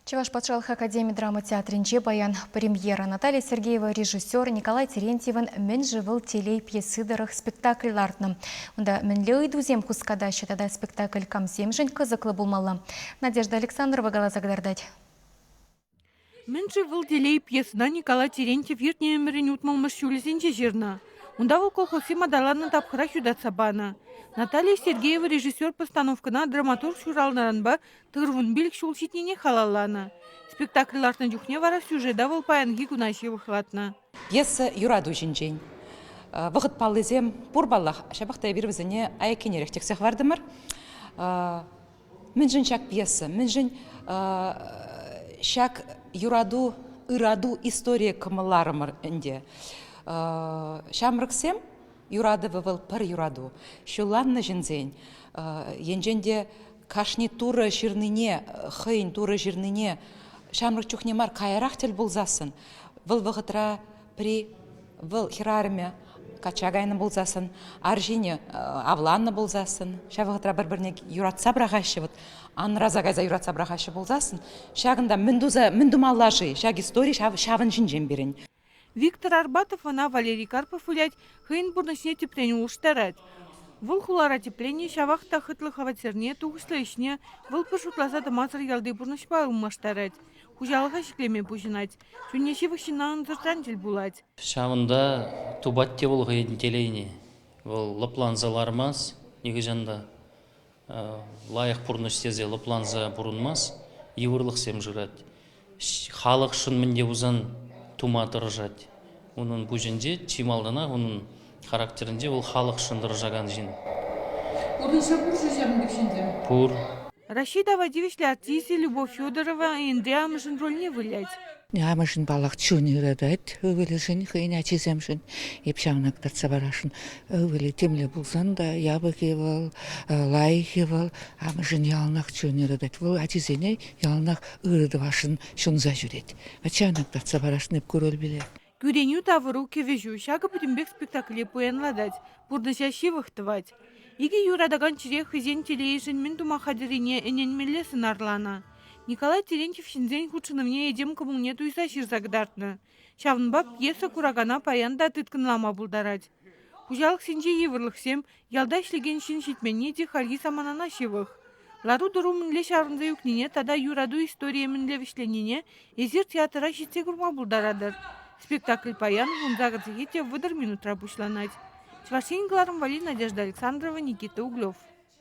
Чӑваш патшалӑх академи драма театрӗнче паян премьера Наталья Сергеева режиссер Николай Терентьевӑн «Мӗн-ши вӑл телей» пьесы тӑрӑх спектакль лартнӑ. Унта мӗнле ыйтусем хускатаҫҫӗ тата спектакль камсемшӗн кӑсӑклӑ пулмалла? Надежда Александрова каласа кӑтартать. Мӗн-ши вӑл телей пьесӑна Николай Терентьев иртнӗ ӗмӗрӗн утмӑлмӗш ҫулӗсенче ҫырнӑ. Унта вӑл колхозсем аталаннӑ тапхӑрах ютатса панӑ. Наталья Сергеева режиссер постановкӑна драматург ҫуралнӑранпа тырвун пилӗк ҫул ҫитнине халалланӑ. Спектакль лартнӑ чухне вара сюжета вӑл паянхи куна ҫывӑхлатнӑ. Пьеса юрату ҫинчен вӑхӑт паллисем пур паллах. Ҫапах та эпир вӗсене аяккинерех тӗксе хӑвартӑмӑр. Мӗншӗн ҫак пьеса? Мӗншӗн ҫак юрату, ырату историйӗ кӑмӑлларӑмӑр ӗнтӗ. Ҫамрӑксем юратӑвӗ вӑл пӗр юрату. Ҫулланнӑ ҫынсен енчен те кашни турӑ ҫырнине, хӑйӗн турӑ ҫырнине ҫамрӑк чухне мар каярах тӗл пулсассӑн вӑл вӑхӑтра При вӑл хӗрарӑмӗ качча кайнӑ пулсассӑн, арҫынӗ авланнӑ пулсассӑн, ҫав вӑхӑтра пӗр-пӗрне юратса пӑрахаҫҫӗ, вот анраса кайса юратса пӑрахаҫҫӗ пулсассӑн, ҫакӑнта мӗн туса мӗн тумалла-ши? Ҫак истори ҫав ҫавӑн ҫинчен пирӗн. Виктор Арбатов ӑна Валерий Карпов вылять, хӑйӗн пурнӑҫне тӗпрен улӑштарать. Вӑл хулара тӗпленни ҫавах та хӑтлӑ хваттерне, тухӑҫлӑ ӗҫне вӑл пӗр шутласа тӑмасӑр ялти пурнӑҫпа ылмаштарать, хуҫалӑха ҫӗклеме пуҫӑнать. Чунне ҫывӑх ҫынна ӑнсӑртран тӗл пулать. Ҫавӑнта тупать те вӑл хӑйӗн телейне. Вӑл лӑпланса лармасть нихӑҫан та. Лайӑх пурнӑҫ тесе лӑпланса пурӑнмасть, йывӑрлӑхсем шырать. Халӑхшӑн мӗн те пулсан тума тӑрӑшать. Унӑн пуҫӗнче, чи малтанах унӑн характерӗнче вӑл халӑхшӑн тӑрӑшакан ҫын. Пурнӑҫа кур-ши ҫакӑн пек ҫынсем? Пур. Раҫҫей-тава тивӗҫлӗ артисчӗ Любовь Федорова Энтри амӑшӗн рольне вылять. Амӑшӗн паллах чун ырӑтать ывӑлӗшӗн, хӑйӗн ачисемшӗн. Эп ҫавна кӑтартса парасшӑн. Ывӑлӗ темле пулсан та япӑхи вӑл, лайӑххи вӑл. Амӑшӗн яланах чун ырӑтать. Вӑл ачисене яланах ырӑ тӑвасшӑн ҫунса ҫӳрет. Ачанок татса парасшӑн ку рольпеле. Кӳренӳ тавӑру кӗвӗҫӳ ҫакӑ пӗтӗмпех спектакле пуянлатать, пурнӑҫа ҫывӑх тӑвать. Икӗ юратакан чӗре хӑйсен телейӗшӗн мӗн тума хатӗррине ӗненмелле сӑнарланӑ. Николай Терентьев ҫынсен хутшӑнӑвне этем кӑмӑлне туйса ҫырса кӑтартнӑ. Ҫавӑнпа пьеса куракана паян та тыткӑнлама пултарать. Хуҫалӑхсенчи йывӑрлӑхсем Ялта ӗҫлекен ҫын ҫитменни те хальхи саманана ҫывӑх. Лару-тӑру мӗнле чарӑнса ӳкнине тата юрату историйӗ мӗнле вӗҫленнине эсир театра ҫитсе курма пултаратӑр. Спектакль паян ун загородсехи те вӑтӑр минутра пуҫланать. Чӑваш Ен кӑларӑмвалли Надежда Александрова, Никита Углев.